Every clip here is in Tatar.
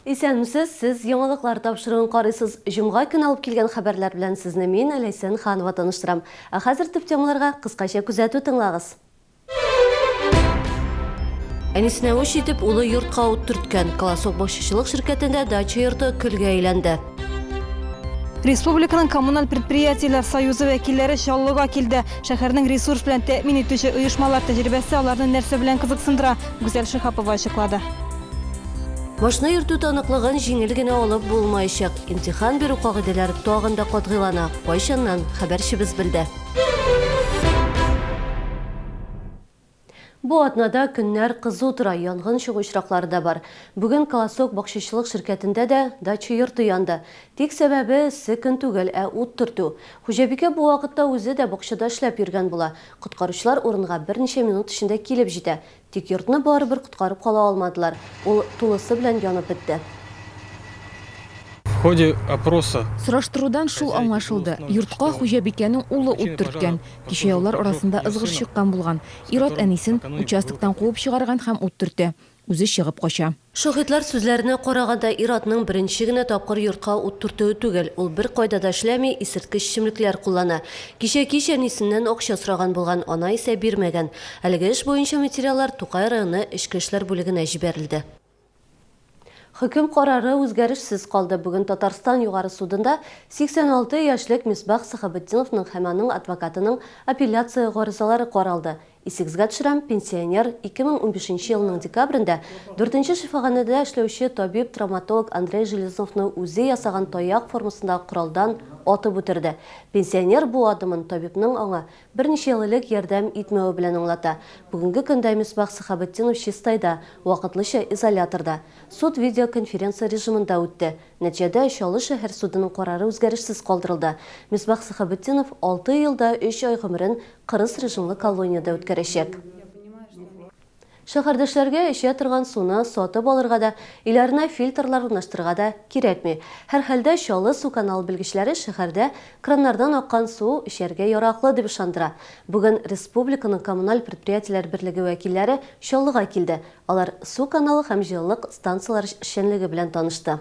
Исәнмесез, сез яңалыклар тапшыруын карыйсыз. Җомга көн алып килгән хәбәрләр белән сезне мин, Ләйсән Ханова таныштырам. Ә хәзер төп темаларга кыскача күзәтү тыңлагыз. Әнисенә үч итеп улы йортка ут төрткән. Колосок бакчачылык ширкәтендә дача йорты көлгә әйләнде. Республиканың коммуналь предприятиеләр союзы вәкилләре Чаллыга килде. Шәһәрнең ресурс белән тәэмин итүче оешмалар тәҗрибәсе аларны нәрсә белән кызыксындыра, Гүзәл Шиһапова ачыклады. Машина йөртү таныклыгын җиңел генә алып булмаячак. Имтихан бирү кагыйдәләре тагын да катгыйлана. Кайчаннан? Хәбәрчебез белде. Бу атнада көннәр кызу тора, янгын чыгу очраклары да бар. Бүген Колосок бакчачылык ширкәтендә дә дача йорты янды. Тик сәбәбе, эссе көн түгел, ә ут төртү. Хуҗабикә бу вакытта үзе дә бакчада эшләп йөргән була. Коткаручылар урынга берничә минут эчендә килеп җитә. Тик йортны барыбер коткарып кала алмадылар, ул тулысы белән янып бетте. В ходе опроса. Сораштырудан шул аңлашылды, йортка хуҗабикәнең улы ут төрткән. Кичә яулар арасында ызгыш чыккан булган. Ир-ат әнисен участоктан куып чыгарган һәм ут төртә. Үзе чыгып кача. Шаһитлар сүзләренә караганда, ир-атның беренче генә тапкыр йортка ут төртүе түгел, ул беркайда да эшләми, исерткеч эчемлекләр куллана. Кичә кич әнисеннән акча сораган булган, ана исә бирмәгән. Әлеге эш буенча материаллар Тукай районы эчке эшләр бүлегенә җибәрелде. Хөкем карары үзгәрешсез калды. Бүген Татарстан Югары судында 86 яшьлек Мисбах Сәхәбетдиновның һәм аның адвокатының апелляция гаризалары каралды. Исегезгә төшерәм, пенсионер, 2015 елның декабрендә дүртенче шифаханәдә эшләүче табиб-травматолог Андрей Железновны үзе ясаган таяк формасындагы коралдан атып үтерде. Пенсионер бу адымын табибның аңа берничә ел элек ярдәм итмәве белән аңлата. Бүгенге көндә Мисбах Сәхәбетдинов Чистайда, вакытлыча изоляторда. Суд видеоконференция режимында үтте. Нәтиҗәдә, Чаллы шәһәр судының карары үзгәрешсез калдырылды. Мисбах Сәхәбетдинов алты ел да өч ай гомерен кырыс режимлы колониядә үткәрәчәк. Шәһәрдәшләргә эчә торган суны сатып алырга да, өйләренә фильтрлар урнаштырырга да кирәкми. Һәрхәлдә, Чаллы су каналы белгечләре шәһәрдә краннардан аккан су эчәргә яраклы дип ышандыра. Бүген республиканың коммуналь предприятиеләр берлеге вәкилләре Чаллыга килде, Алар су каналы һәм җылылык станцияләре эшчәнлеге белән танышты.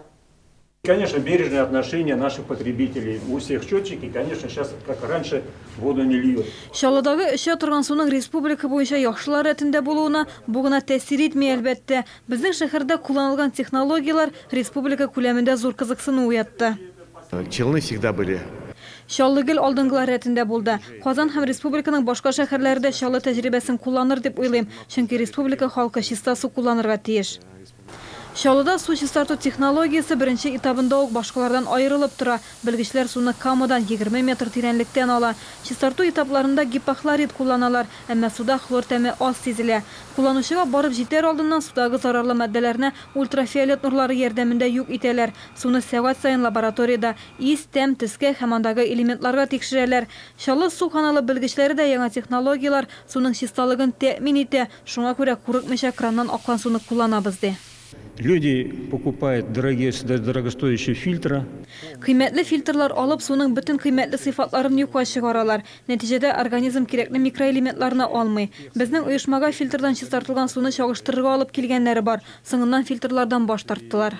Конечно, бережное отношение наших потребителей, у всех счетчики, конечно, сейчас как раньше воду не льют. Чаллыдагы эчә торган суның республика буенча яхшылар рәтендә булуына бу гына тәэсир итми, әлбәттә. Безнең шәһәрдә кулланылган технологияләр республика күләмендә зур кызыксыну уятты. Челны всегда были. Чаллы гел алдынгылар рәтендә булды. Казан һәм республиканың башка шәһәрләре дә Чаллы тәҗрибәсен кулланыр дип уйлыйм, чөнки республика халкы чиста су кулланырга тиеш. Чаллыда су чистарту технологиясе беренче этабында ук башкалардан аерылып тора, белгечләр суны камадан, егерме метр тирәнлектән ала. Чистарту этапларында гипохлорид кулланалар, әмма суда хлор тәме аз сизелә. Кулланучыга барып җитәр алдыннан судагы зарарлы матдәләрне ультрафиолет нурлары ярдәмендә юк итәләр. Суны сәгать саен лабораториядә ис, тәм, төскә һәм андагы элементларга тикшерәләр. Чаллы су каналы белгечләре дә яңа технологияләр суның чисталыгын тәэмин итә, шуңа күрә курыкмыйча краннан аккан суны кулланабыз, ди. Люди покупают дорогие дорогостоящие фильтры. Кыйммәтле фильтрлар алып, суның бөтен кыйммәтле сыйфатларын юкка чыгаралар. Нәтиҗәдә организм кирәкле микроэлементларны алмый. Безнең оешмага фильтрдан чистартылган суны чагыштырырга алып килгәннәре бар. Соңыннан фильтрлардан баш тарттылар.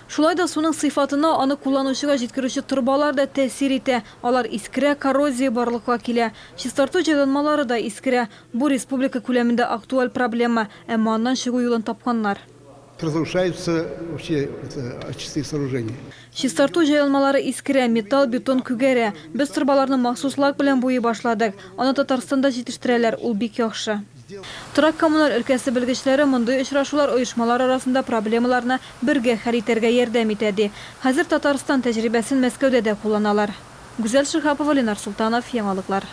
Шулай да суның сыйфатына аны кулланучыга җиткерүче торбалар да тәэсир итә, алар искерә, коррозия барлыкка килә. Чистарту җайланмалары да искерә. Бу республика күләмендә актуаль проблема, әмма аннан чыгу юлын тапканнар. Разрушаются вообще очистные сооружения. Чистарту җайланмалары искерә, металл, бетон күгәрә. Без торбаларны махсус лак белән буйый башладык. Аны Татарстанда җитештерәләр, ул бик яхшы. Торак-коммуналь өлкәсе белгечләре мондый очрашулар оешмалар арасында проблемаларны бергә хәл итәргә ярдәм итә, ди. Хәзер Татарстан тәҗрибәсен Мәскәүдә дә кулланалар. Гүзәл Шиһапова, Ленар Солтанов, Яңалыклар.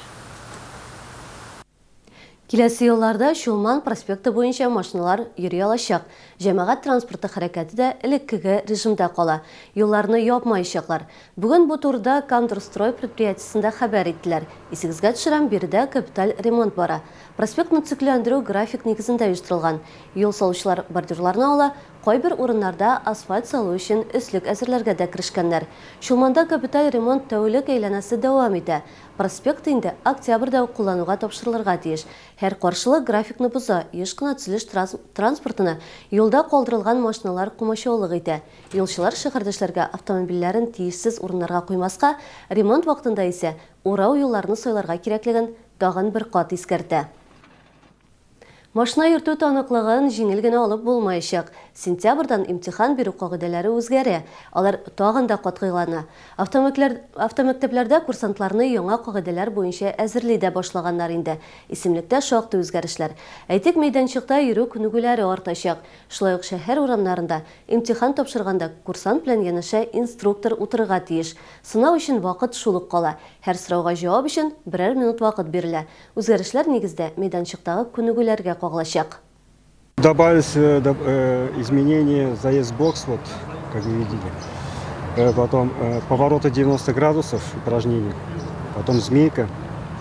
Киләсе елларда Чулман проспекты буенча машиналар йөри алачак. Җәмәгать транспорты хәрәкәте дә элеккеге режимда кала. Юлларны япмаячаклар. Бүген бу турыда Кандрстрой предприятиесендә хәбәр иттеләр. Исегезгә төшерәм, биредә капиталь ремонт бара. Проспектны төзекләндерү график нигезендә оештырылган. Юл салучылар бордюрларны ала, кайбер урыннарда асфальт салу өчен өслек әзерләргә дә керешкәннәр. Чулманда капиталь ремонт тәүлек әйләнәсе дәвам итә. Проспект инде октябрьдә үк куллануга тапшырылырга тиеш. Һәр каршылык графикны боза, еш кына төзелеш транспортына юлда калдырылган машиналар комачаулык итә. Юлчылар шәһәрдәшләргә автомобильләрен тиешсез урыннарга куймаска, ремонт вакытында исә урау юлларны сайларга кирәклеген тагын бер кат искәртә. Машина йөртү таныклыгын җиңел генә алып булмаячак. Сентябрьдан имтихан бирү кагыйдәләре үзгәрә, алар тагын да катгыйлана. Автомекләр автомәктәпләрдә курсантларны яңа кагыйдәләр буенча әзерли дә башлаганнар инде. Исемлектә шактый үзгәрешләр. Әйтик, мәйданчыкта йөрү күнегүләре артачак. Шулай ук шәһәр урамнарында Имтихан тапшырганда курсант белән янәшә инструктор утырырга тиеш. Сынау өчен вакыт шул ук кала. Һәр сорауга җавап өчен берәр минут вакыт бирелә. Үзгәрешләр нигездә мәйданчыктагы күнегүләргә кагылачак. Добавить изменение заезд бокс вот как вы видели потом повороты 90 градусов упражнение потом змейка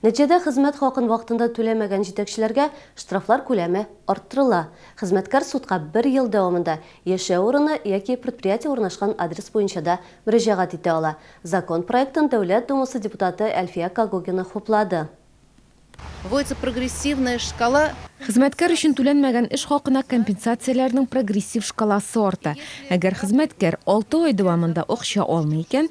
Нәтиҗәдә хезмәт хакын вакытында түләмәгән җитәкчеләргә штрафлар күләме арттырыла. Хезмәткәр судка бер ел дәвамында яшәү урыны яки предприятие урнашкан адрес буенча да мөрәҗәгать итә ала. Закон проектын Дәүләт Думасы депутаты Әлфия Когогина хуплады. Вводится прогрессивная шкала. Хезмәткәр өчен түләнмәгән эш хакына компенсацияләрнең прогрессив шкаласы арта. Әгәр хезмәткәр алты ай дәвамында акча алмый икән,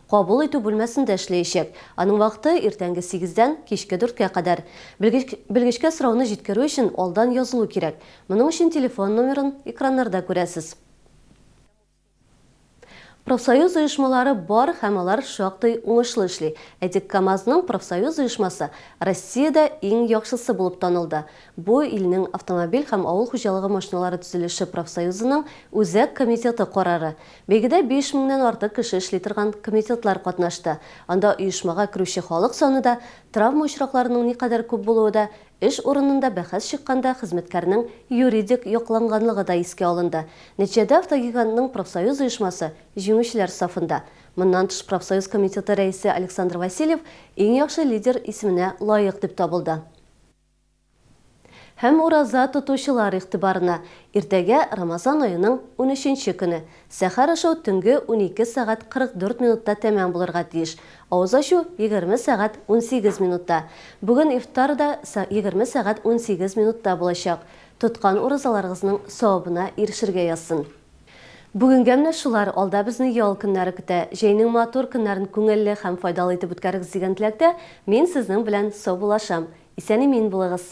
Кабул итү бүлмәсендә эшләячәк. Аның вакыты, иртәнге сигездән, кичке дүрткә кадәр. Белгеч, белгечкә сорауны җиткерү өчен алдан язылу кирәк. Моның өчен телефон номерын экраннарда күрәсез. Профсоюз оешмалары бар һәм алар шактый уңышлы эшли. Әйтик, КАМАЗның профсоюз оешмасы Россиядә иң яхшысы булып танылды. Бу илнең автомобиль һәм авыл хуҗалыгы машиналары төзелеше профсоюзының Үзәк комитеты карары. Бәйгедә биш меңнән артык кеше эшли торган комитетлар катнашты. Анда оешмага керүче халык саны да, травма очракларының никадәр күп булуы да, эш урынында бәхәс чыкканда хезмәткәрнең юридик якланганлыгы да искә алынды. Нәтиҗәдә Автогигантның профсоюз оешмасы җиңүчеләр сафында. Моннан тыш профсоюз комитеты рәисе Александр Васильев Иң яхшы лидер исеменә лаек дип табылды. Һәм ураза тотучылар игътибарына, иртәгә, Рамазан аеның унөченче көне, сәхәр ашау төнге унике сәгать 44 минутта тәмам булырга тиеш, авыз ачу, егерме сәгать унсигез минутта. Бүген ифтар да егерме сәгать унсигез минутта булачак. Тоткан уразаларыгызның савабына ирешергә язсын. Бүгенгә менә шулар, алда безне ял көннәре көтә. Җәйнең матур көннәрен күңелле һәм файдалы итеп үткәрегез дигән теләктә, мин сезнең белән саубуллашам. Исән-имин булыгыз!